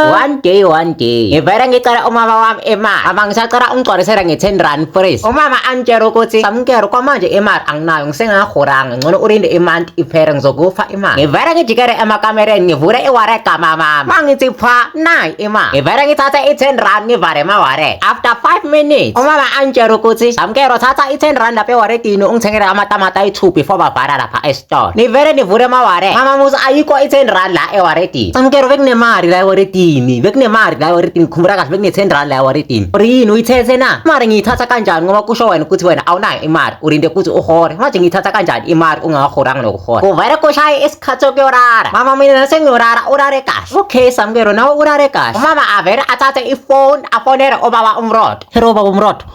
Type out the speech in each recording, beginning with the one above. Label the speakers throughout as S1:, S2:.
S1: one day one day ngivele ngicela umama wami imali ama ngisacela ungigcwalisela nge-ten rand fresh umama angitshela ukuthi samukelo kwamanje imali anginayo ngisengahoranga ngcono ulinde imanti iphele ngizokufa imali ngivele ngijikele emakamereni ngivule iware kamamama mangithi pha nayi imali ngivele ngithathe i-ten rand ngivale emaware after five minutes umama angitshela ukuthi samukelo thatha i-ten rand lapha ewaretini ungithengele amatamata ayi-two before bavala lapha Tona. Ni vele nivule maware. Mama Musa ayikho i-10 rand la ewaredini. Samkero bekunemali la ewaredini. Bekunemali la ewaredini. Khumbula kahle bekune-10 rand la ewaredini. Uri yini uyithethe na? Imali ngiyithatha kanjani ngoba kusho wena ukuthi wena awunayo imali. Urinde ukuthi uhore. Manje ngiyithatha kanjani imali ungakahoranga nokuhora. Kuvele kushaye isikhathi sokuyorara. Mama mina nasengiyorara urare kahle. Okay Samkero nawe urare kahle. Umama avele athathe ifoni afonele obaba umrodo. Hero baba umrodo.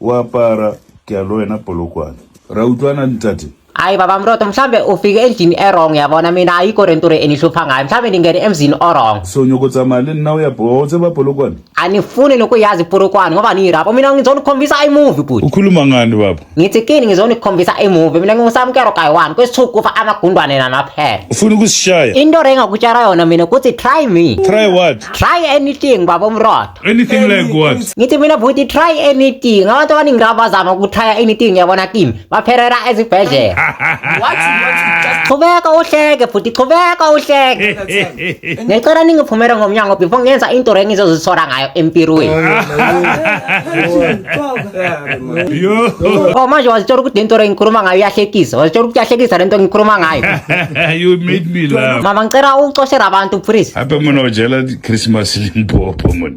S2: o apara ke a lo wena polokwane ra utlwana ntate hayi baba mroto
S1: mhlawumbe ufike endlini erong yabona mina ayikho le nto re enihlupha ngayo mhlawumbe ndingene emzini orong so nyoko tsamaya le
S2: nna o ya bowa o tseba polokwane anifuni nokuyazi
S1: iporokwane ngoba niyirabo mina ngizonikhombisa imuvi bhuti ukhuluma ngani baba
S2: ngithi kini ngizonikhombisa
S1: imuvi mina ngingusamkero kayi-one kwesithuku kufa amagundwane namaphela ufuna ukusishaya
S2: into re engakutshara
S1: yona mina kuthi try me try what try
S2: anything
S1: baba umroto
S2: anything like what ngithi mina bhuti
S1: try anything abantu abaningi laba bazama ukutrya anything yabona kimi baphelela ezibhedlela chubeka uhleke bhuti chubeka uhleke ngicela ningiphumele ngomnyango before ngenza into rengizozisola ngayo empirweni Oh manje wazitshela ukuthi lento engikhuluma ngayo iyahlekisa. Wazitshela ukuthi iyahlekisa lento engikhuluma ngayo. you made
S2: me laugh. Mama ngicela ucoshele abantu
S1: please.
S2: Hape mona ujela
S1: Christmas
S2: limpopo mona.